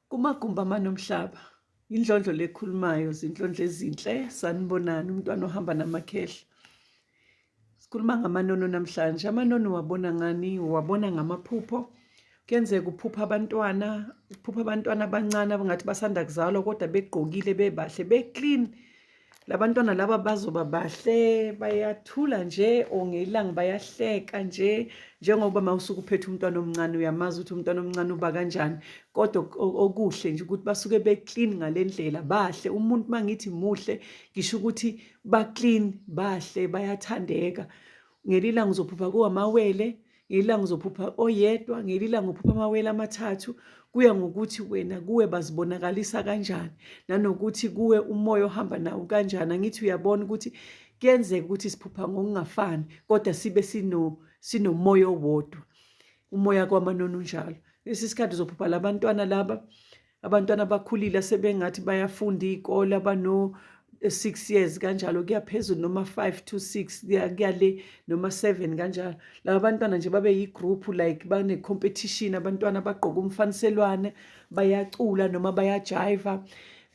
Kumagumba amanomhlaba indlondlo lekhulumayo zinhlondlo ezinhle sanibonani umntwana ohamba namakhehla sikhuluma ngamanono namhlanje amanono wabona ngani wabona ngamaphupho kuyenzeka uphupha abantwana uphupha abantwana abancane abangathi basanda kuzalwa kodwa begqokile bebahle beclean labantwana laba bazoba bahle bayathula nje or ngelanga bayahleka nje njengoba mawusuke uphethe umntwana omncane uyamazi ukuthi umntwana omncane uba kanjani kodwa okuhle nje ukuthi basuke beclean ngalendlela bahle umuntu mangithi muhle ngisho ukuthi baclean bahle bayathandeka ngelilanga uzophupha kuwamawele ngelilanga uzophupha oyedwa ngelilanga uphupha amawele amathathu kuya ngokuthi wena kuwe bazibonakalisa kanjani nanokuthi kuwe umoya ohamba nawo kanjani angithi uyabona ukuthi kuyenzeka ukuthi siphupha ngokungafani kodwa sibe sino sinomoya owodwa umoya kwamanoni unjalo lesi sikhathi uzophupha labantwana laba abantwana abakhulile asebengathi bayafunda iy'kole abano eh, six years kanjalo kuyaphezulu noma five to six kuyale noma seven kanjalo laba bantwana nje babe yi-group like bane-competition abantwana bagqoke umfaniselwane bayacula noma bayajiva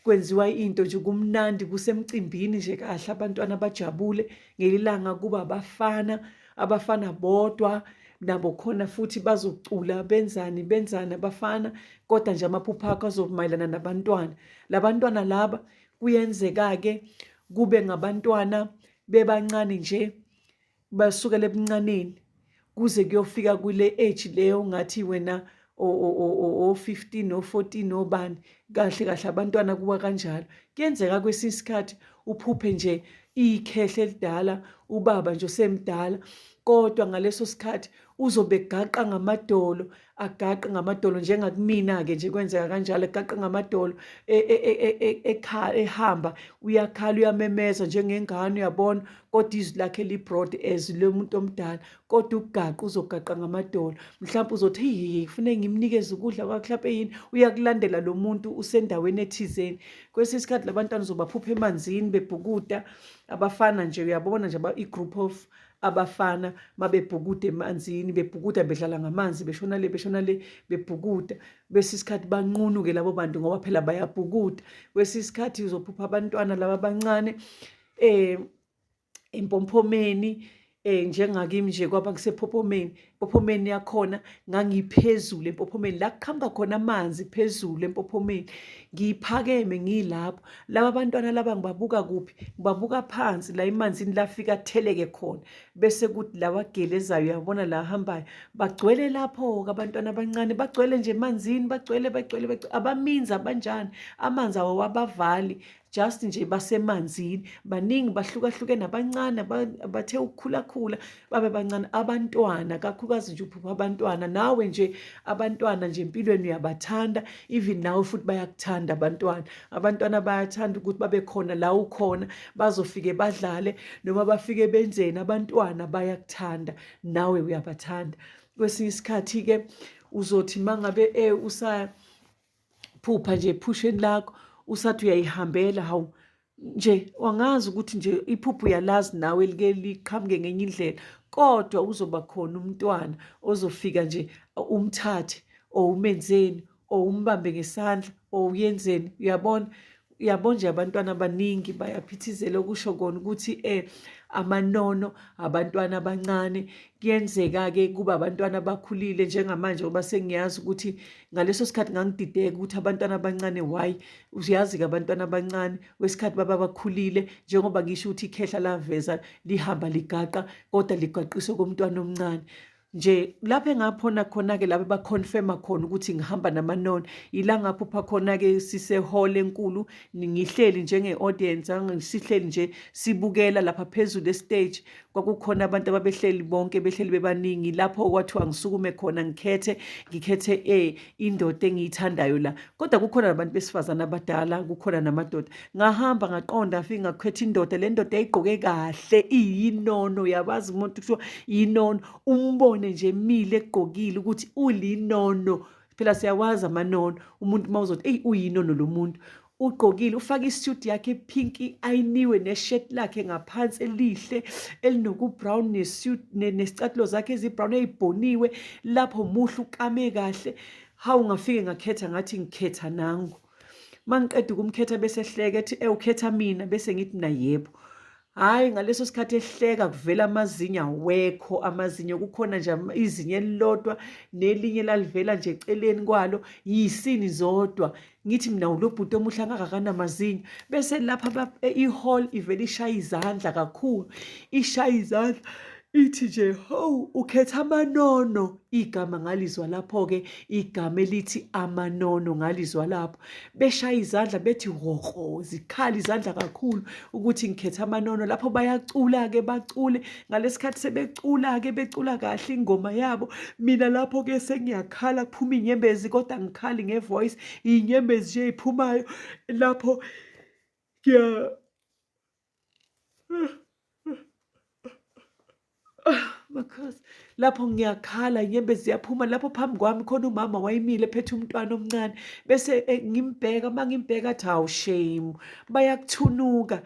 kwenziwa into nje kumnandi kusemcimbini nje kahle abantwana bajabule ngelilanga kuba abafana abafana bodwa nabo khona futhi bazocula benzani benzani abafana kodwa nje amaphupho akho azomayelana nabantwana labantwana laba kuyenzeka-ke kube ngabantwana bebancane nje basukela ebuncaneni kuze kuyofika kule age leyo ngathi wena o-15 no-14 obani kahle kahle abantwana kuwa kanjalo kuyenzeka kwesinye isikhathi uphuphe nje ikhehle elidala ubaba nje osemdala kodwa ngaleso sikhathi uzobe gaqa ngamadolo agaqe ngamadolo njengakumina-ke nje kwenzeka kanjalo egaqe ngamadolo e, e, e, ehamba uyakhala uyamemeza njengengane uyabona kodwa izwi lakhe librod as lomuntu omdala kodwa ukugaqa uzogaqa ngamadolo mhlawumbe uzothi hihi kufuneke ngimnikeze ukudla kwakhe mhlawumpe yini uyakulandela lo muntu usendaweni ethizeni kwesinye isikhathi la bantwana uzobaphupha emanzini bebhukuda abafana nje uyabona nje i-group of abafana mabebhukuda emanzini bebhukuda bedlala ngamanzi beshona le beshona le bebhukuda bese isikhathi banqunuke labo bantu ngoba phela bayabhukuda kwesinye isikhathi uzophupha abantwana laba abancane um empompomeni eh njengakimi nje kwaba ngisephophomeni empophomeni yakhona ngangiphezulu empophomeni la kuqhamuka khona amanzi phezulu empophomeni ngiphakeme ngilapho laba bantwana laba ngibabuka kuphi ngibabuka phansi la emanzini lafika atheleke khona bese kuthi lawa gelezayo uyabona la hambayo bagcwele lapho ke abantwana abancane bagcwele nje emanzini bagcwele bagcwele abamizi abanjani amanzi awawabavali just nje basemanzini baningi bahlukahlukene abancane abathe ukukhulakhula babe bancane abantwana kakhulukazi nje uphupha abantwana nawe nje abantwana nje empilweni uyabathanda even nawe futhi bayakuthanda abantwana abantwana bayathanda ukuthi babe khona la ukhona bazofike badlale noma bafike benzeni abantwana bayakuthanda nawe uyabathanda kwesinye isikhathi-ke uzothi uma ngabe um eh, usa phupha nje ephusheni lakho usathi uyayihambela hawu nje wangazi ukuthi nje iphupho uyalazi nawe like liqhamuke ngenye indlela kodwa uzoba khona umntwana ozofika nje umthathe or umenzeni or umbambe ngesandla or uyenzeni uyabona uyabo nje abantwana abaningi bayaphithizela okusho kona ukuthi eh amanono abantwana abancane kuyenzeka-ke kuba abantwana abakhulile njengamanje ngoba sengiyazi ukuthi ngaleso sikhathi ngangidideka ukuthi abantwana abancane why uyazi-ke abantwana abancane wesikhathi baba bakhulile njengoba ngisho ukuthi ikhehla laveza lihamba ligaqa kodwa ligaqiswe komntwana omncane nje lapho engaphona khona-ke laba baconfirma khona ukuthi ngihamba namanoni ila ngaphupha khona-ke sisehole enkulu ngihleli njenge-audience sihleli nje sibukela lapha phezulu estage kwakukhona abantu ababehleli bonke behleli bebaningi lapho kwathiwa ngisukume khona ngikhethe ngikhethe e indoda engiyithandayo la kodwa kukhona nabantu besifazane abadala kukhona namadoda ngahamba ngaqonda afike ngakhetha indoda le ndoda yayigqoke kahle iyinono yabazi umuntu kuthiwa yinono umbone nje emile egqokile ukuthi ulinono phela siyawazi amanono umuntu uma uzothi eyi uyinono lo muntu ugqokile ufake isuit yakhe pinki ayiniwe neshirt lakhe ngaphansi elihle elinokubrown nesuit nesicathulo zakhe ezibrown eyibhoniwe lapho muhle ukame kahle hawu ngafike ngakhetha ngathi ngikhetha nangu mangiqeda ukumkhetha bese hleke ethi ewukhetha mina bese ngithi mina yebo hhayi ngaleso sikhathi ehleka kuvela amazinyo awekho amazinyo kukhona nje izinyo elilodwa nelinye lalivela nje eceleni kwalo yisini zodwa ngithi mina ulo bhuti omuhle angakanamazinyo bese lapha e, i-hall ivele ishaya izandla kakhulu ishaya izandla ithi nje howu ukhetha amanono igama ngalizwa lapho-ke igama elithi amanono ngalizwa lapho beshaya izandla bethi hoho zikhala izandla kakhulu ukuthi ngikhetha amanono lapho bayacula-ke bacule ngalesikhathi sebecula-ke becula kahle ingoma yabo mina lapho-ke sengiyakhala kuphuma iy'nyembezi kodwa ngikhali ngevoice iy'nyembezi nje ey'phumayo lapho ngiya Makhosi lapho ngiyakhala inyembe ziyaphuma lapho phambi kwami khona umama wayimile phethe umntwana omncane bese eh, ngimbheka uma ngimbheka athi hawu shame bayakuthunuka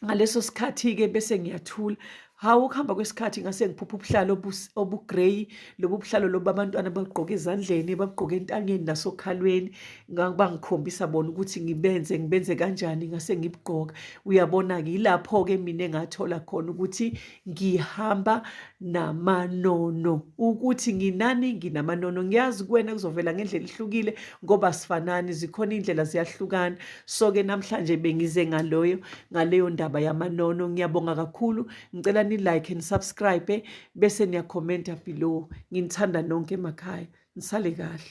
ngaleso sikhathi-ke bese ngiyathula Hawu ukuhamba kwesikhathi ngase ngiphupha ubuhlalo obugrey lobu buhlalo lobu abantwana bagqoke ezandleni bagqoke entanyeni nasokhalweni bangikhombisa bona ukuthi ngibenze ngibenze kanjani ngase ngibugqoka uyabona-ke yilapho-ke mina engathola khona ukuthi ngihamba namanono ukuthi nginani nginamanono ngiyazi kuwena kuzovela ngendlela ihlukile ngoba sifanani zikhona iy'ndlela ziyahlukana so ke namhlanje bengize ngaloyo ngaleyo ndaba yamanono ngiyabonga kakhulu ngicela ni like and subscribe bese niyakhomenta below nginithanda nonke emakhaya nisale kahle